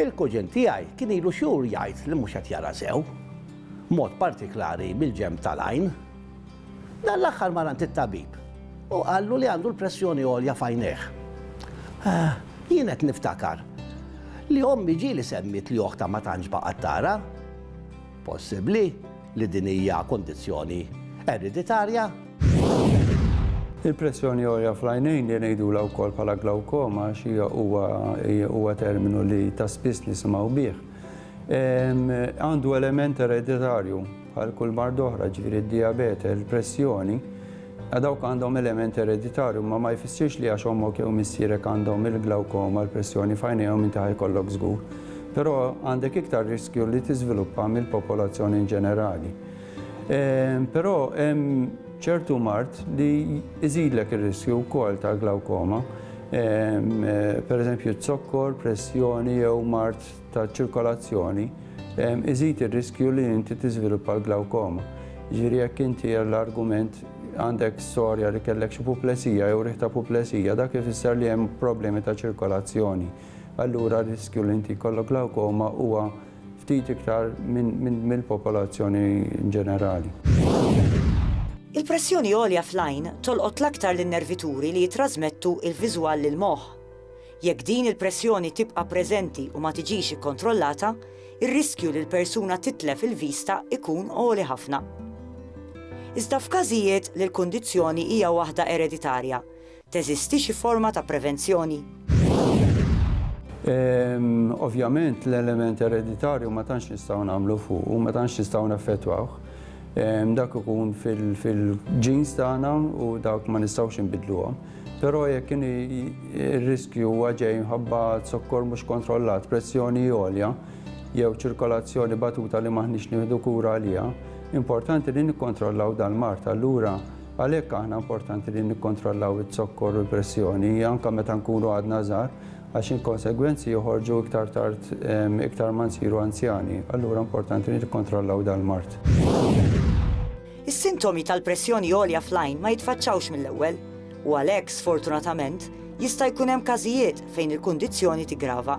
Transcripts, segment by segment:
Il-kuġin tiegħi kien ilu xhur jgħid li mhux qed jara sew, b'mod partiklari mill-ġenb tal-għajn. Dan l-aħħar mar għand it-tabib u qallu li għandu l-pressjoni għolja f'għajnejh. Ah, jien qed niftakar li ommi ġieli semmiet li oħtha ma tantx baqgħet tara. Possibbli li din hija kundizzjoni ereditarja? Il-pressjoni għolja fl-għajnejn li ngħidulha wkoll bħala glawkoma għax hija huwa huwa terminu li ta' spiss nisimgħu bih, għandu element ereditarju bħal kull marda oħra, ġifieri d-dijabete, il-pressjoni, A Dawk għandhom element ereditarju, imma ma jfissirx li għax ommok jew missierek għandhom il-glawkoma, l-pressjoni f'għajnejhom inti ħa jkollok żgur. Però għandek iktar riskju li tiżviluppa mill-popolazzjoni inġenerali. Però hemm ċertu mard li jżidlek ir-riskju wkoll tal-glawkoma, pereżempju z-zokkor, pressjoni jew mard tal-ċirkolazzjoni, iżid ir-riskju li inti tiżviluppa l-glawkoma. Ġifieri jekk inti l-argument għandek storja li kellek xi puplesija jew riħ ta' puplesija, dak ifisser li hemm problemi ta' ċirkolazzjoni. Allura r-riskju li inti jkollok glawkoma huwa ftit iktar mill-popolazzjoni ġenerali. Il-pressjoni għolja fl-għajn tolqot l-aktar lin-nervituri li jittrażmettu l-viżwal lill-moħħ. Jekk din il-pressjoni tibqa' preżenti u ma tiġix ikkontrollata, ir-riskju li l-persuna titlef il-vista jkun għoli ħafna. Iżda f'każijiet li l-kundizzjoni hija waħda ereditarja, teżisti xi forma ta' prevenzjoni? Ovvjament l-element ereditarju ma tantx nistgħu nagħmlu fuqu, ma tantx nistgħu naffettwawh. Dak ikun fil-genes tagħna u dak ma nistgħux inbiddluhom. Però jekk inhi r-riskju huwa ġej minħabba zokkor mhux kontrollat, pressjoni għolja, jew ċirkolazzjoni batuta li m'aħniex nieħdu kura għaliha, importanti li nikkontrollaw dal-mard. Allura, għalhekk aħna importanti li nikkontrollaw iz-zokkor u l-pressjoni, anke meta nkunu għadna żgħar, għax il-konsegwenzi joħorġu iktar tard iktar ma nsiru anzjani. Allura importanti li nikkontrollaw dal-mard. Is-sintomi tal-pressjoni għolja fl-għajn ma jitfaċċawx mill-ewwel, u għalhekk, sfortunatament, jista' jkun hemm każijiet fejn il-kundizzjoni tiggrava.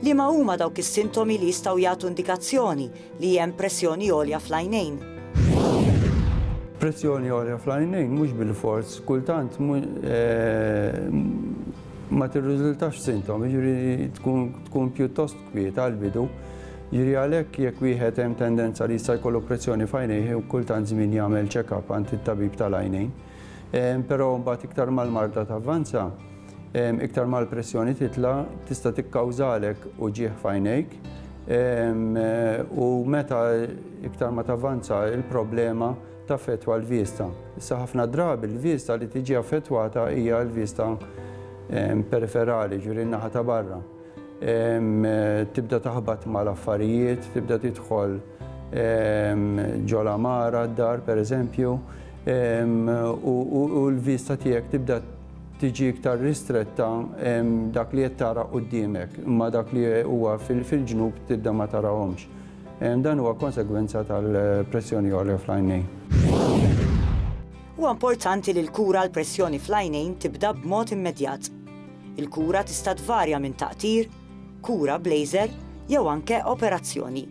Liema huma dawk is-sintomi li jistgħu jagħtu indikazzjoni li hemm pressjoni għolja fl-għajnejn? Pressjoni għolja fl-għajnejn mhux bilfors kultant ma tirriżultax f'sintomi, jiġifieri tkun pjuttost kwieta għall-bidu. Jiġri għalhekk jekk wieħed hemm tendenza li jista' jkollu pressjoni f'għajnejh u kull tant żmien jagħmel check-up għand it-tabib tal-għajnejn. Però mbagħad iktar mal-marda tavvanza, iktar mal-pressjoni titla' tista' tikkawżalek uġigħ f'għajnejk u meta iktar ma tavvanza l-problema taffettwa l-vista. Issa ħafna drabi l-vista li tiġi affettwata hija l-vista periferali, ġifieri n-naħa ta' barra. Tibda taħbat mal-affarijiet, tibda tidħol ġo l-għamara, d-dar pereżempju, u l-vista tiegħek tibda tiġi iktar ristretta dak li qed tara quddiemek, imma dak li huwa fil-ġnub tibda ma tarahomx. Dan huwa konsegwenza tal-pressjoni għolja fl-għajnejn. Huwa importanti li l-kura għall-pressjoni fl-għajnejn tibda b'mod immedjat. Il-kura tista' tvarja minn taqtir, kura b'laser jew anke operazzjoni.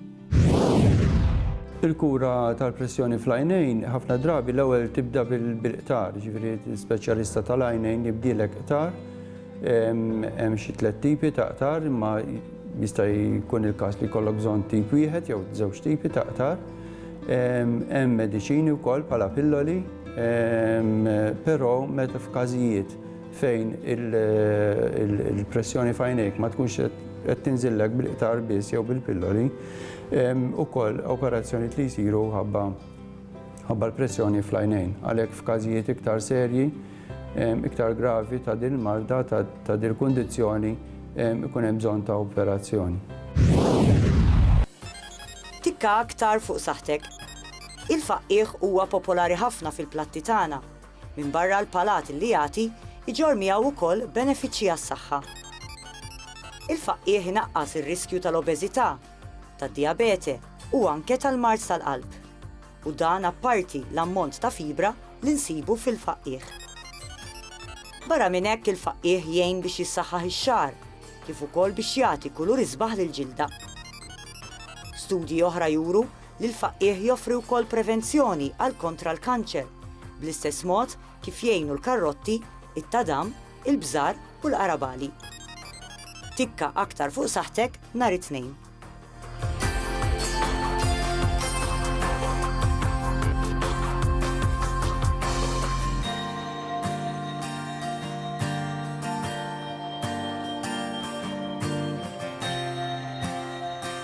Il-kura tal-pressjoni fl-għajnejn ħafna drabi l-ewwel tibda bil-qtar, jiġifieri l-speċjalista tal-għajnejn jibdielek qtar. Hemm xi tliet tipi ta' qtar, imma jista' jkun il-każ li jkollok bżonn tip wieħed jew żewġ tipi ta' qtar. Hemm mediċini wkoll bħala pilloli, però meta f'każijiet fejn il-pressjoni f'għajnejk ma tkunx qed tinżillek bil-qtar biss jew bil-pilloli, ukoll operazzjonijiet li jsiru ħabba l-pressjoni fl-għajnejn. Għalhekk f'każijiet iktar serji, iktar gravi ta' din il-marda, ta' din il-kundizzjoni, ikun hemm bżonn ta' operazzjoni. Tikka aktar fuq saħħtek. Il-faqqiegħ huwa popolari ħafna fil-platti tagħna, Minbarra l-palat li jagħti, iġorr miegħu wkoll benefiċċji għas-saħħa. Il-faqqiegħ inaqqas ir-riskju tal-obeżità, tad-dijabete u anke tal-mard tal-qalb. U dan apparti l-ammont ta' fibra li nsibu fil-faqqiegħ. Barra minn hekk il-faqqiegħ jgħin biex jissaħħaħ ix-xagħar, kif ukoll biex jagħti kulur isbaħ lill-ġilda. Studji oħra juru li l-faqqiegħ joffri wkoll prevenzjoni għal kontra l-kanċer, bl-istess mod kif jgħinu l-karrotti, it-tadam, il-bżar u l-qarabagħli. Tikka aktar fuq saħħtek nhar it-Tnejn.